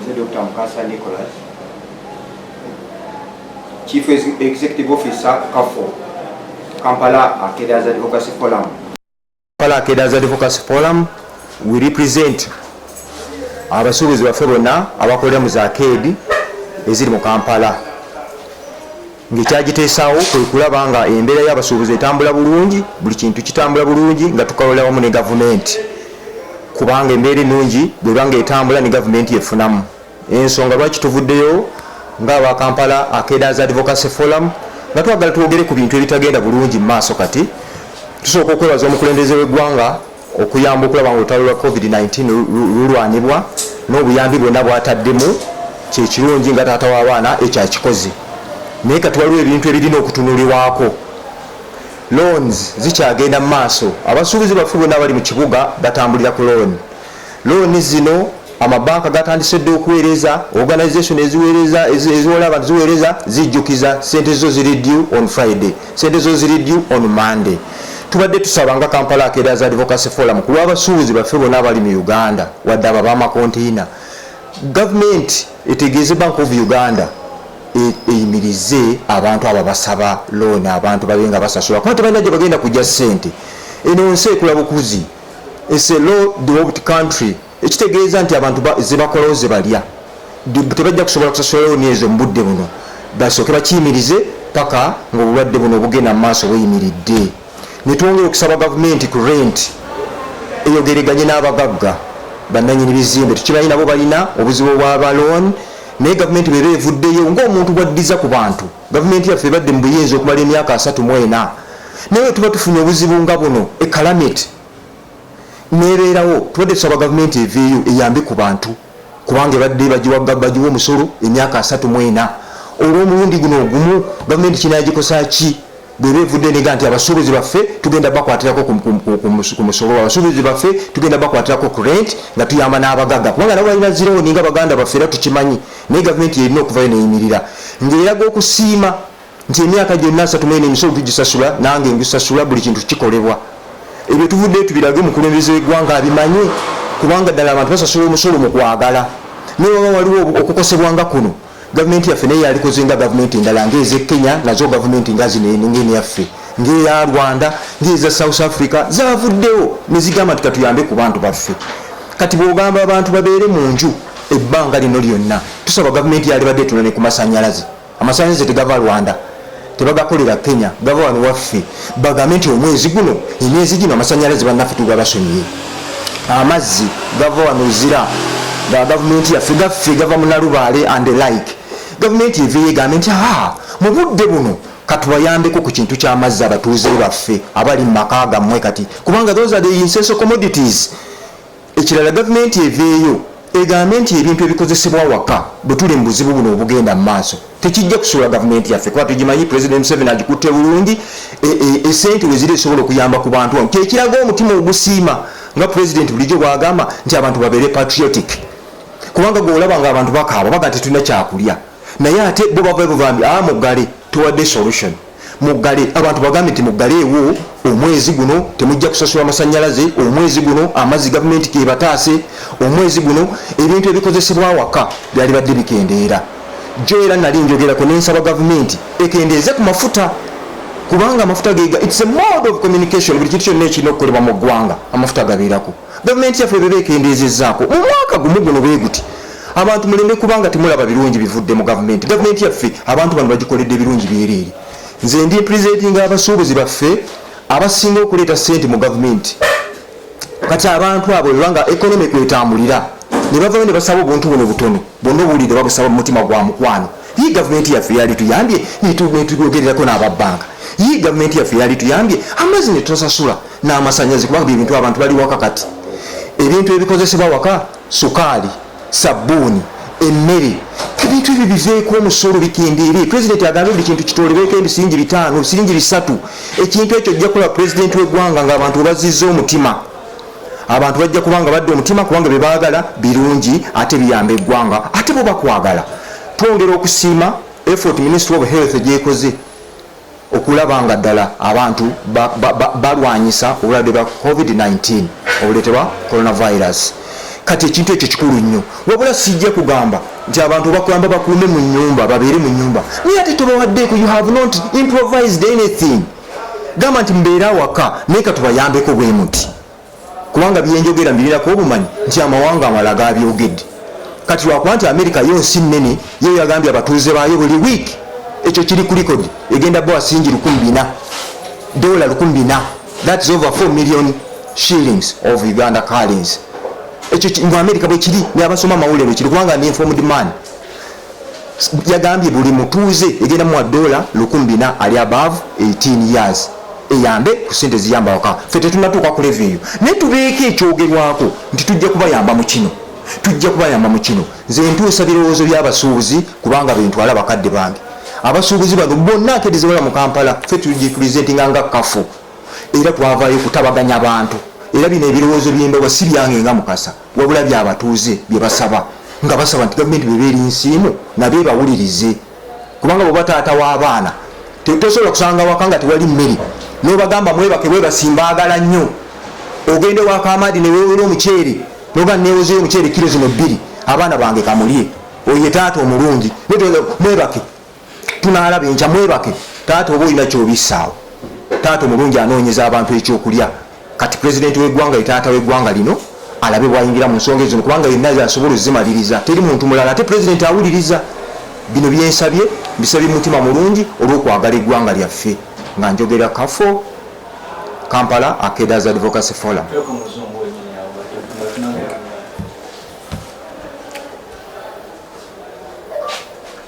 nze dr mukasa nicolas chief executive officer kafo kampala akedas advocacy forum kampala akedas advocacy forum we represent abasuubuzi baffe bonna abakolera mu zakeedi eziri mu kampala Ng'ekyagiteesaawo kwe kulaba nga embeera y'abasuubuzi etambula bulungi, buli kintu kitambula bulungi nga tukolera wamu ne gavumenti kubanga embeera ennungi bw'eba ng'etambula ne gavumenti efunamu. Ensonga lwaki tuvuddeyo ng'aba Kampala Arcaders Advocacy Forum nga twagala twogere ku bintu ebitagenda bulungi mu maaso kati, tusooka okwebaza omukulembeze w'eggwanga okuyamba okulaba nga olutalo lwa covid 19 lulwanibwa n'obuyambi bwonna bwataddemu kyekirungi nga taata w'abaana ekyo akikoze naye kati waliwo ebintu ebirina okutunulibwako loans zikyagenda mu maaso abasuubuzi baffe bonna abali mu kibuga batambulira ku looni Looni zino amabanka gatandise dda okuweereza. Organisation eziweereza eziwola abantu ziweereza zijjukiza ssente zo ziri due on Friday, ssente zo ziri due on Monday. Tubadde tusaba nga Kampala Arcaders Advocacy Forum ku lw'abasuubuzi baffe bonna abali mu Uganda wadde abo ab'amakonteyina, gavumenti etegeeze Bank of Uganda e, eyimirize abantu abo basaba looni abantu babe nga basasula kuba tebalina gye bagenda kujja ssente. Eno nsi ekula bukuzi. It's a law developed country ekitegeeza nti abantu zebakolawo zebalya tebajja kusobola kusasula looni ezo mu budde buno basooke bakiyimirize paka ngaobulwadde buno obugenda mu maaso buyimiridde netwongera okusaba gavumenti ku rent eyogereganye n'abagagga bananyini bizimbe tukimanyi nabo balina obuzibu obwaba looni naye gavumenti bweba evuddeyo ngaomuntu bwaddiza ku bantu Gavumenti yaffe ebadde mu buyinza okumala emyaka asatu mu ena naye bwe tuba tufunye obuzibu nga buno e Kalamit nebeerawo tubadde tusaba gavumenti eveeyo eyambe ku bantu kubanga ebadde bagiwa omusolo emyaka asatu mu ena olw'omulundi guno ogumu gavumenti kinagikosa ki bweba evudde nega nti abasuubuzi baffe tugenda bakwatirako ku musolo abasuubuzi baffe tugenda bakwatirako ku rent nga tuyamba n'abagaga kubanga nabo balina zirooni nga baganda baffe era tukimanyi naye gavumenti yerina okuvayo neyimirira ngaeraga okusiima nti emyaka gyonna asatu mene emisolo tugisasula nange ngisasula buli kintu kikolebwa ebyo tuvuddeyo tubirage omukulembeze wegwanga abimanye kubanga ddala abantu basasula omusolo mu kwagala naye waba waliwo okukosebwa nga kuno gavumenti yaffe naye yalikoze nga gavumenti endala ngaeze kenya nazo gavumenti nga zinenengeni yaffe ngaeya rwanda ngaeza south africa zavuddewo nezigamba nti katuyambe ku bantu baffe kati bwogamba abantu babeere mu nju Ebbanga lino lyonna tusaba gavumenti yalibadde etula ne ku masanyalaze. Amasanyalaze tegava Rwanda, tebagakolera Kenya, gava wano waffe. Bagambe nti omwezi guno, emyezi gino amasanyalaze bannaffe tuba basonyiye. Amazzi gava wano Luzira, ga gavumenti yaffe, gaffe gava mu Nalubaale and the like. Gavumenti eveeyo egambe nti haa mu budde buno katubayambeko ku kintu ky'amazzi abatuuze baffe abali mu maka gammwe kati kubanga those are the essential commodities. Ekirala gavumenti eveeyo egambe nti ebintu ebikozesebwa awaka bwetuli mu buzibu buno obugenda mu maaso tekijja kusuula gavumenti yaffe kuba tugimanyi pulezidenti Museveni agikutte bulungi e, e, esente e, weziri esobola okuyamba ku bantu wano kyekiraga omutima ogusiima nga pulezidenti bulijjo bwagamba nti abantu babeere patriotic kubanga gweolaba nga abantu bakaaba baga nti tulina kyakulya naye ate bo bava buvambi a ah, muggale Tuwadde solution muggale abantu bagambe nti muggaleewo omwezi guno temujja kusasula masanyalaze omwezi guno amazzi gavumenti gebataase omwezi guno ebintu ebikozesebwa awaka byali badde bikendeera jo era nali njogerako nensaba gavumenti ekendeeze ku mafuta kubanga amafuta gega its a mode of communication buli kintu kyonna ekirina okukolebwa mu ggwanga amafuta gabeerako Gavumenti yaffe beba ekendeezezzaako mu mwaka gumu guno bwe guti abantu muleme kubanga temulaba birungi bivudde mu gavumenti. Gavumenti yaffe abantu bano bagikoledde birungi byereere. Nze ndi mpresentinga abasuubuzi baffe abasinga okuleeta ssente mu gavumenti. Kati abantu abo bebanga economy kwetambulira ne bavayo ne basaba obuntu buno butono. Bwonna obuwulidde oba busaba mu mutima gwa mukwano, yii gavumenti yaffe yali tuyambye netubyogererako n'aba banka, yii gavumenti yaffe yali tuyambye amazzi netusasula n'amasanyalaze kubanga bye bintu abantu bali waka kati. Ebintu ebikozesebwa waka, sukaali, sabbuuni, emmere, ebintu ebyo biveeko omusolo bikendeere. Pulezidenti agambye buli kintu kitoolereeko ebisiringi bitaano, ebisiringi bisatu. Ekintu ekyo ojja kukola pulezidenti w'eggwanga ng'abantu webazzizza omutima. abantu bajja kuba nga badda omutima kubanga bye baagala birungi ate biyamba eggwanga ate bo bakwagala twongera okusiima effort ministry of health gyekoze okulaba nga ddala abantu balwanyisa obulwadde bwa covid-19 obuleetebwa coronavirus kati ekintu ekyo kikulu nnyo wabula sijja kugamba nti abantu bakulamba bakuume mu nyumba babeere mu nyumba naye ate tobawaddeeko you have not improvised anything gamba nti mbeera awaka naye katubayambeko bwe muti kubanga byenjogera mbirirako obumanyi nti amawanga amala gabyogedde kati lwakuba nti amerika yo nsi nnene yo yagambye abatuuze baayo buli wiiki ekyo kiri ku likodi egenda bawa singi lukumi bina dola lukumi bina that is over 4 million shillings of uganda carlins ekyo ngu amerika bwekiri neabasoma amawulire bwekiri kubanga ndi informed man yagambye buli mutuuze egenda muwa dola lukumi bina ali above 18 years eyambe ku sente ziyamba waka fe tetunatuuka ku revenue naye tubeeko ekyogerwako nti tujja kubayamba mu kino tujja kubayamba mu kino nze ntuusa birowoozo by'abasuubuzi kubanga bentwala bakadde bange abasuubuzi bano bonna akedezebala mu kampala fe tugipresentinga nga kafu era twavaayo kutabaganya bantu era bino ebirowoozo by'embawa si byange nga mukasa wabula byabatuuze byebasaba nga basaba nti gavumenti beba eri nsiimu nabo ebawulirize kubanga bweba taata w'abaana tosobola kusanga waka nga tewali mmere nobagamba mwebake bwebasimbaagala nnyo ogende wakamaadi newewera omuceere noga newozeyo omuceere kiro zino bbiri abaana bange kamulye oye taata omulungi mwebake tunaalaba enkya mwebake taata oba olina kyobisaawo taata omulungi anoonyeza abantu ekyokulya kati pulezidenti wegwanga ye taata wegwanga lino alabe bwayingira mu nsonga ezino kubanga yenna zasobola ozimaliriza teri muntu mulala ate pulezidenti awuliriza bino byensabye mbisabye mumutima mulungi olwokwagala eggwanga lyaffe nga njogera kafo kampala akedas advocacy forum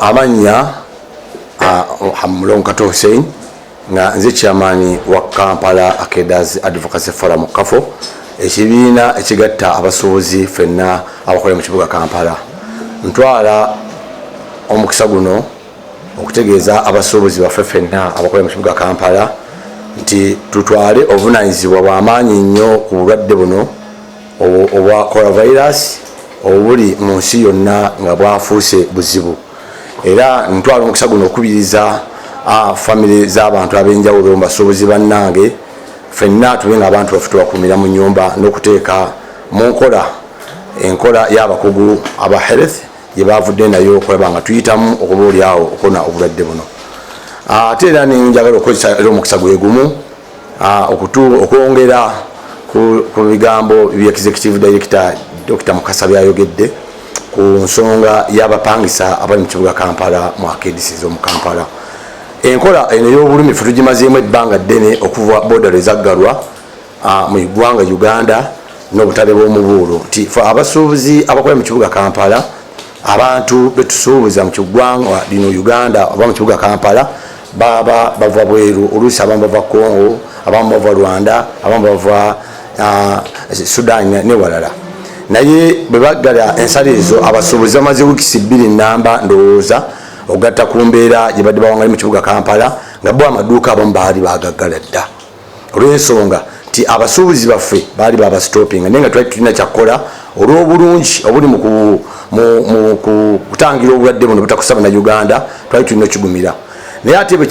amannya mulongo kato hussein nga nze kyamaani wa kampala akedas advocacy forum kafo ekibiina ekigatta abasuubuzi fenna abakolera mu kibuga kampala ntwala omukisa guno okutegeeza abasuubuzi baffe fenna abakolera mu kibuga kampala nti tutwale obuvunanyizibwa bwamaanyi nnyo ku bulwadde buno obwa coronavirus obuli mu nsi yonna nga bwafuuse buzibu era ntwala omukisa guno okukubiriza famire z'abantu ab'enjawulo mu basuubuzi bannange fenna tube nga abantu baffe tubakuumira mu nyumba n'okuteeka mu nkola enkola y'abakugu aba health gye baavudde nayo okulaba nga tuyitamu okuba olyawo okona obulwadde buno ate era nenjagala okukozesa era omukisa gwegumu Ah, okwongera ku bigambo bya executive director dr mukasa byayogedde ku nsonga y'abapangisa abali mu kibuga kampala mu akedisi z'omu kampala enkola eno ey'obulumi fe tugimazeemu ebbanga ddene okuva bodero ezaggalwa ah, mu ggwanga uganda n'obutale bw'omubuulo nti fe abasuubuzi abakolera mu kibuga kampala abantu betusuubuza mukiggwanga lino uganda oba mukibuga kampala baba bava bweru oluusi abamu bava congo abamu bava rwanda abamu bava ah, sudan newalala naye bwebaggala ensala ezo abasuubuzi bamaze wikisi bbiri namba ndowooza okugatta ku mbeera gyebadde bawangali mu kibuga kampala nga bo amaduuka abamu baali bagaggala dda olw'ensonga nti abasuubuzi baffe baali babasitopinga naye nga twali tulina kyakkola olw'obulungi obuli mu kutangira obulwadde buno butakusa bannayuganda twali tulina okigumira naye ate bwe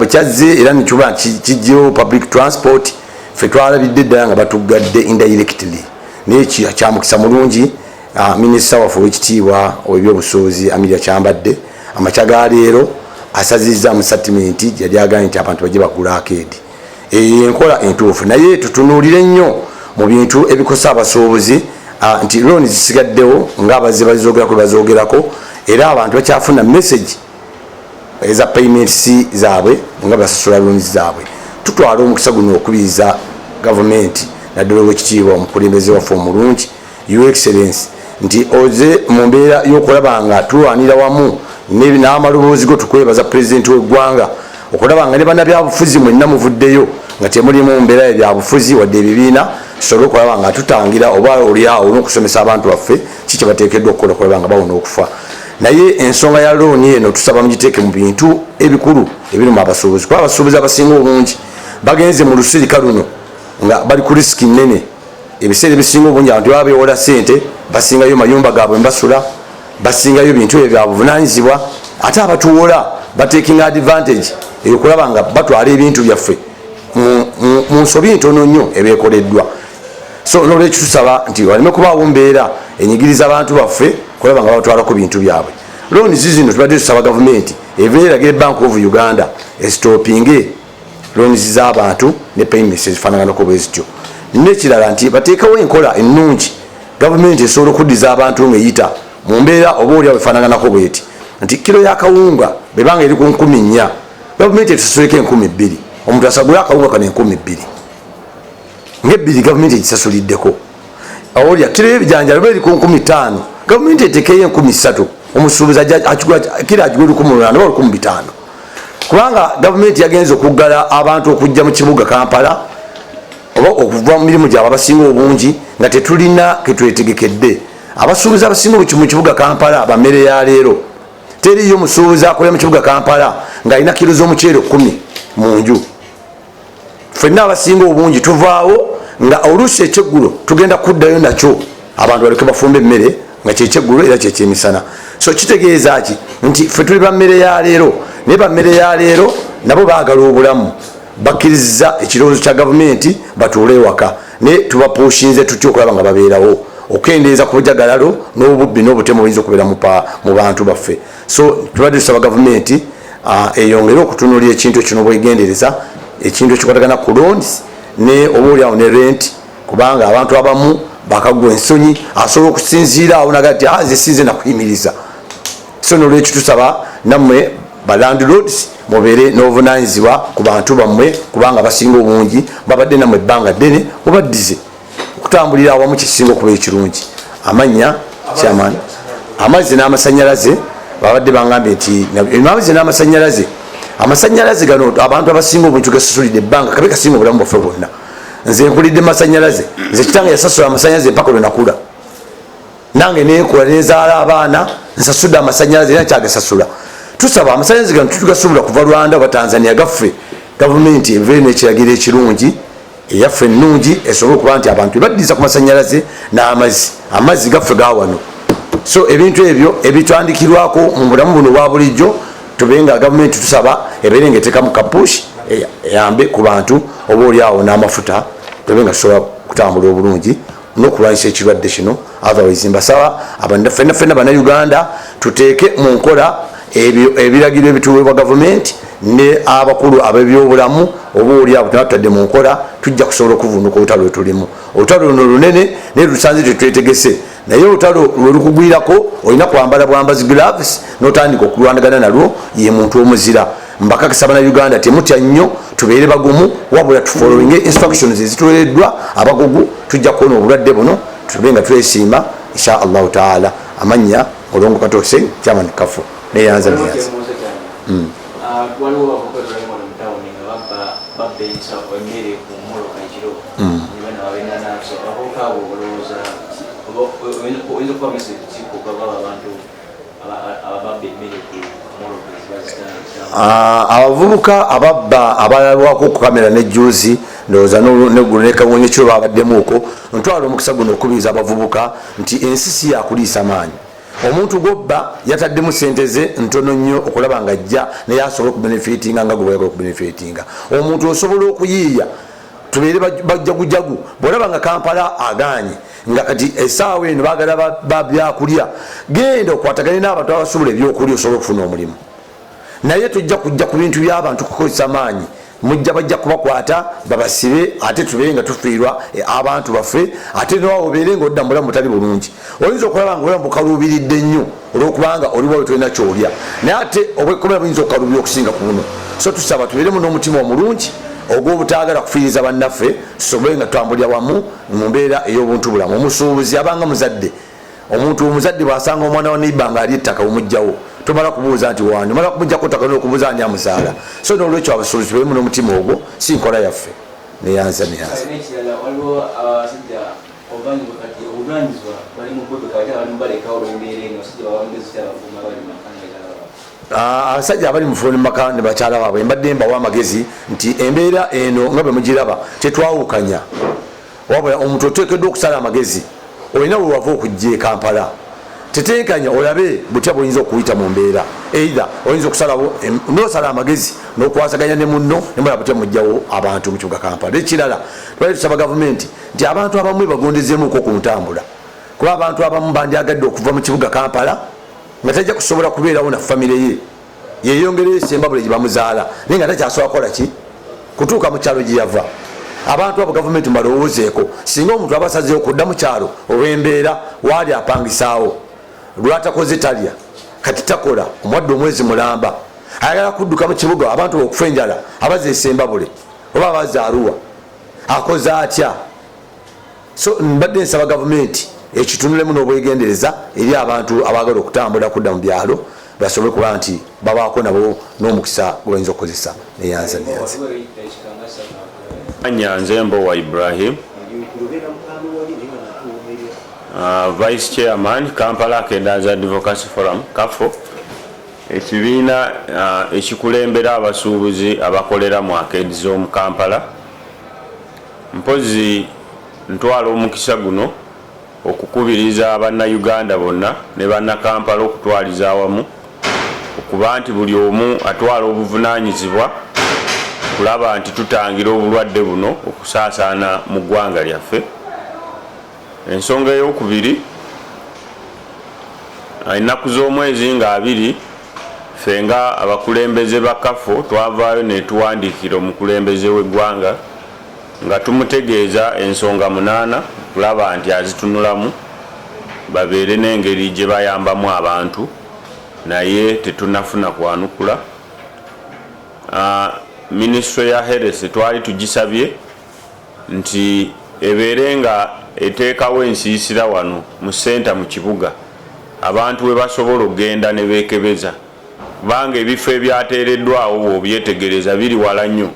kyazze era nekiba kijjewo public transport fe twalabidde ddala nga batuggadde indirectly naye kyamukisa mulungi Ah, minisita waffe owekitiibwa owebyobusuubuzi amiria kyambadde amakya ga leero asazizza mu satimenti yali agambye nti abantu bajje bagula akeedi eyo enkola entuufu naye tutunuulire nnyo mu bintu ebikosa abasuubuzi ah, nti looni zisigaddewo ngaabazze bazizogerako bazogerako era abantu bakyafuna message eza payments zaabwe nga basasula looni zaabwe tutwala omukisa guno okubiriza gavumenti naddala owekitiibwa omukulembeze waffe omulungi Your Excellency nti oze mu mbeera y'okulaba nga tulwanira wamu n'amaloboozi go tukwebaza pulezidenti w'eggwanga okulaba nga ne bannabyabufuzi mwenna muvuddeyo nga temuli mu mbeera ya byabufuzi wadde ebibiina tusobole okulaba nga tutangira oba olyawo n'okusomesa abantu baffe ki kye bateekeddwa okukola okulaba nga bawona okufa naye ensonga ya looni eno tusaba mugiteeke mu bintu ebikulu ebiruma abasuubuzi kuba abasuubuzi abasinga obungi bagenze mu lusirika luno nga bali ku risiki nnene ebiseera ebisinga obungi abantu baba bewola sente basingayo mayumba gabwe mbasula basingayo bintu ebyo byabuvunanyizibwa ate abatuwola bataking advantage eyokulaba nga batwala ebintu byaffe mu nsobi ntono nnyo ebekoleddwa so nolwekyo tusaba nti waleme kubaawo mbeera enyigiriza abantu baffe kulaba nga batwalako bintu byabwe looni zizino tubadde tusaba gavumenti ebeeragire bank of uganda esitopinge loans z'abantu ne payments ezifaanaganako bwe zityo nekirala nti bateekawo enkola ennungi gavumenti esobola okuddiza abantu ng'eyita mu mbeera oba olyawo efaanaganako bweti nti kiro yakawunga bebanga eri ku nkumi nnya gavumenti etusasuleko enkumi bbiri omuntu asagule akawunga kano enkumi bbiri ngaebbiri gavumenti egisasuliddeko awolya kiro ebijanjalo beri ku nkumi ttaano gavumenti etekeyo enkumi ssatu omusuubuzi kira agigula lukumi lulana oba lukumi bitaano kubanga gavumenti yagenza okuggala abantu okujja mu kibuga kampala oba okuva mu mirimu gyabwe abasinga obungi nga tetulina ketwetegekedde abasuubuzi abasinga mu kibuga kampala bamere ya leero teriyo musuubuzi akolera mu kibuga kampala ng'alina kiro z'omuceere kumi mu nju fenna abasinga obungi tuvaawo nga oluusi ekyeggulo tugenda kuddayo nakyo abantu baleke bafumba emmere nga kyekyeggulo era kyekyemisana so kitegeeza ki nti fe tuli bammere ya leero naye bammere ya leero nabo baagala obulamu bakkirizza ekirowoozo kya gavumenti batuule ewaka naye tubapuushinze tutya okulaba nga babeerawo okukendeeza ku bujagalalo n'obubbi n'obutemu buyinza okubeera mu bantu baffe so tubadde tusaba gavumenti ah, eyongere okutunulira ekintu ekyo nobwegendereza ekintu ekikwatagana ku loans ne oba olyawo ne rent kubanga abantu abamu bakagwa ensonyi asobola okusinziira awo naga ti ah, nze sinze nakuyimiriza so nolwekyo tusaba nammwe balandlords mubeere n'obuvunanyizibwa ku bantu bammwe kubanga basinga obungi babadde nammwe ebbanga ddene mubaddize okutambulira awamu kisinga okuba ekirungi amannya kyamaani amazzi n'amasanyalaze babadde bangambye nti amazzi n'amasanyalaze amasanyalaze gano abantu abasinga obuntu gasusulidde ebbanga kabe kasinga obulamu bwaffe bwonna nze nkulidde masanyalaze nze kitanga yasasula amasanyalaze empaka lwenakula nange nekola nezaala abaana nsasudde amasanyalaze era nkyagasasula tusaba amasanyalaze gano tutugasubula kuva rwanda oba tanzania gaffe gavumenti ebeere nekiragiro ekirungi eyaffe ennungi esobole okuba nti abantu ebaddiza ku masanyalaze n'amazzi amazzi gaffe ga wano so ebintu ebyo ebitandikirwako mu bulamu buno obwa bulijjo tube nga gavumenti tusaba ebeere nga etekamu kapush eyambe ku bantu oba oliawo n'amafuta tube nga tusobola kutambula obulungi nokulwanyisa ekirwadde kino otherwise mbasaba fena fena banauganda tuteeke mu nkola ebyo ebiragiro ebituweebwa gavumenti ne abakulu abebyobulamu oba oli abo tebatutadde mu nkola tujja kusobola okuvunuka olutalo lwetulimu olutalo luno lunene naye lusanze tetwetegese naye olutalo lwelukugwirako olina kwambala bwambazi gloves notandika okulwanagana nalwo ye muntu omuzira mbakakisa bana uganda temutya nnyo tubeere bagumu wabula tufollowinge instructions ezituwereddwa abagugu tujja kuwona obulwadde buno tube nga twesiima insha allahu taala amannya olongo katoose chairman kafu neyanza neyanza hmm. ah, hmm. oyinza okuba mesi kikugaba abantu Ah, abavubuka ababba abalabwako okukamera ne juzi ndowooza neggulo nekawonyo kiro babaddemuuko ntwala omukisa guno okukubiriza abavubuka nti ensi si yakuliisa maanyi omuntu gwobba yataddemu sente ze ntono nnyo okulaba nga ajja naye asobole okubenefitinga nga gwebayaga okubenefitinga omuntu osobola okuyiiya tubeere bajjagujagu bwolaba nga kampala aganye nga kati esaawa eno bagala babyakulya genda okwatagane n'abantu abasubula ebyokulya osobola okufuna omulimu naye tojja kujja ku bintu by'abantu kukozesa maanyi mujja bajja kubakwata babasibe ate tubeere nga tufiirwa e, abantu baffe ate nowawo obeere nga odda mubulamu butali bulungi oyinza okulaba nga obulamu bukaluubiridde nnyo olwokubaanga oliwawe tolina kyolya naye ate obwekomera buyinza okukaluubira okusinga ku buno so tusaba tubeeremu n'omutima omulungi ogw'obutaagala kufiiriza bannaffe tusobole nga tutambulira wamu mu mbeera ey'obuntubulamu omusuubuzi abanga muzadde omuntu omuzadde bwasanga omwana wa neiba nga ali ettaka omugjawo tomala kubuuza nti wani omala kumujjako ttaka nokubuuza ani amuzaala so nolwekyo abasuubuzi tubalimu n'omutima ogwo si nkola yaffe neyanza neyanza Ah, abasajja abali mufuni maka ne bakyala baabwe mbadde mbawa amagezi nti embeera eno nga bwe mugiraba tetwawukanya wabula omuntu oteekeddwa okusala amagezi olina wewava okujja ekampala tetenkanya olabe butya bwoyinza okuyita mu mbeera eithe oyinza okusalawo nosala amagezi nokwasaganya ne munno nemala butya mujjawo abantu mu kibuga kampala ekirala twali tusaba gavumenti nti abantu abamu ebagondezemuko ku ntambula kuba abantu abamu bandyagadde okuva mu kibuga kampala nga tajja kusobola kubeerawo na famire ye yeyongereyo esembabule gye bamuzaala naye nga takyasobola kukola ki kutuuka mu kyalo gye yava abantu abo gavumenti mubalowoozeeko singa omuntu aba asazeewo kudda mu kyalo olw'embeera waali apangisaawo lwatakoze talya kati takola omwadde omwezi mulamba ayagala kudduka mu kibuga abantu bookufa enjala abaza esembabule oba abaza aruwa akoze atya so mbadde nsaba gavumenti ekitunulemu n'obwegendereza eri abantu abaagala okutambula kudda mu byalo basobole kuba nti babaako nabo n'omukisa gwe bayinza okukozesa neyanza neyanza anyanze mbowa ibrahim uh, vice chairman kampala akendanza advocacy forum kafo ekibiina uh, ekikulembera abasuubuzi abakolera mu akeedi z'omu kampala Mpozzi ntwala omukisa guno okukubiriza Bannayuganda bonna ne Bannakampala okutwaliza awamu okuba nti buli omu atwala obuvunaanyizibwa okulaba nti tutangira obulwadde buno okusaasaana mu ggwanga lyaffe. Ensonga ey'okubiri, ennaku z'omwezi nga abiri, ffe nga abakulembeze ba KAFO twavaayo netuwandiikira omukulembeze w'eggwanga nga tumutegeeza ensonga munaana okulaba nti azitunulamu babeere n'engeri gye bayambamu abantu naye tetunafuna kwanukula. Minisitule ya Health twali tugisabye. nti ebeere nga eteekawo ensiisira wano mu ssenta mu kibuga abantu we basobola okugenda ne beekebeza kubanga ebifo ebyateereddwawo bw'obyetegereza biri wala nnyo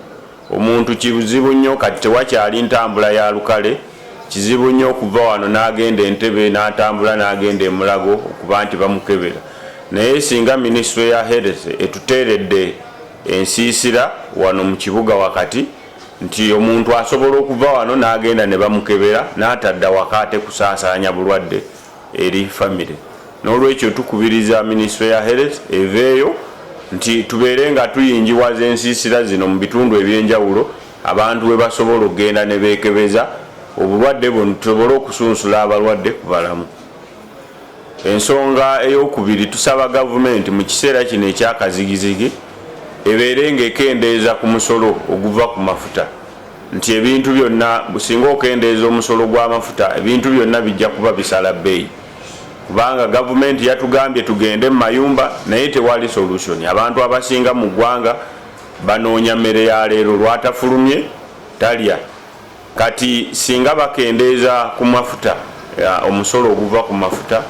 omuntu kizibu nnyo kati tewakyali ntambula ya lukale kizibu nnyo okuva wano n'agenda e Ntebe n'atambula n'agenda e Mulago okuba nti bamukebera naye singa minisitule ya Health etuteeredde ensiisira wano mu kibuga wakati nti omuntu asobola okuva wano n'agenda ne bamukebera n'atadda waka ate kusaasaanya bulwadde eri famire n'olwekyo tukubiriza minisitule ya health eveeyo nti tubeere nga tuyingiwaza ensiisira zino mu bitundu eby'enjawulo abantu bwe basobola okugenda ne beekebeza obulwadde buno tusobole okusunsula abalwadde ku balamu Ensonga ey'okubiri, tusaba gavumenti mu kiseera kino ekya kazigizigi ebeere ng'ekendeeza ku musolo oguva ku mafuta nti ebintu byonna singa okendeeza omusolo gw'amafuta ebintu byonna bijja kuba bisala bbeeyi kubanga gavumenti yatugambye tugende mu mayumba naye tewali solution abantu abasinga mu ggwanga banoonya mmere ya leero lwatafulumye talya Kati singa bakendeeza ku mafuta, omusolo oguva ku mafuta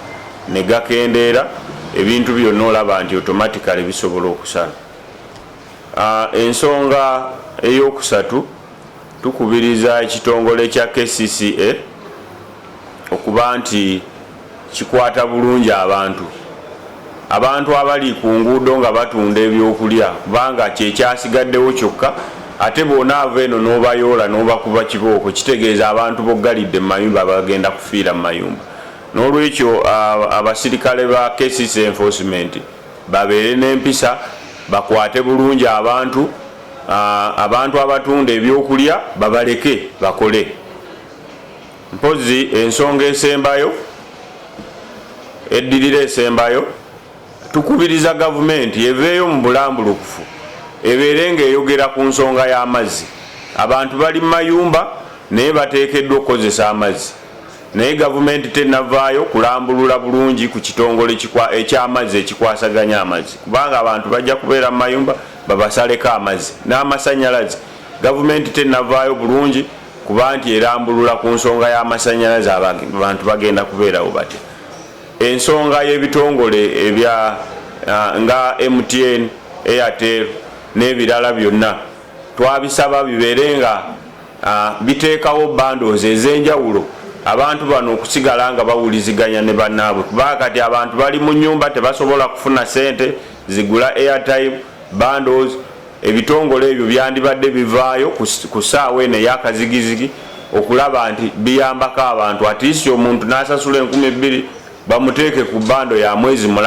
ne gakendeera, ebintu byonna olaba nti automatically bisobola okusala. Ensonga ey'okusatu, tukubiriza ekitongole kya kcca okuba nti. kikwata bulungi abantu abantu abali ku nguudo nga batunda ebyokulya kubanga kyekyasigaddewo kyokka ate bona ava eno n'obayoola n'obakuba kibooko kitegeeza abantu boggalidde mu mayumba bagenda kufiira mu mayumba n'olwekyo abasirikale ba kcc enforcement babeere n'empisa bakwate bulungi abantu abantu abatunda ebyokulya babaleke bakole Mpozzi ensonga esembayo eddirira esembayo, tukubiriza gavumenti eveeyo mu bulambulukufu ebeere ng'eyogera ku nsonga y'amazzi. Abantu bali mu mayumba naye bateekeddwa okukozesa amazzi naye gavumenti tennavaayo kulambulula bulungi ku kitongole eky'amazzi ekikwasaganya amazzi kubanga abantu bajja kubeera mu mayumba babasaleko amazzi n'amasannyalaze gavumenti tennavaayo bulungi kuba nti erambulula ku nsonga y'amasannyalaze abantu bagenda kubeerawo batya ensonga y'ebitongole ebya ah, nga mtn airtel n'ebirala byonna twabisaba bibeere nga ah, biteekawo bandozi ez'enjawulo abantu bano okusigala nga bawuliziganya ne bannaabwe kubanga kati abantu bali mu nyumba tebasobola kufuna sente zigula airtime bandos Ebitongole ebyo byandibadde bivaayo ku ssaawa eno eyakazigizigi okulaba nti biyambako abantu at least omuntu nasasula enkumi bbiri bamuteeke ku bando ya mwezi mulamba.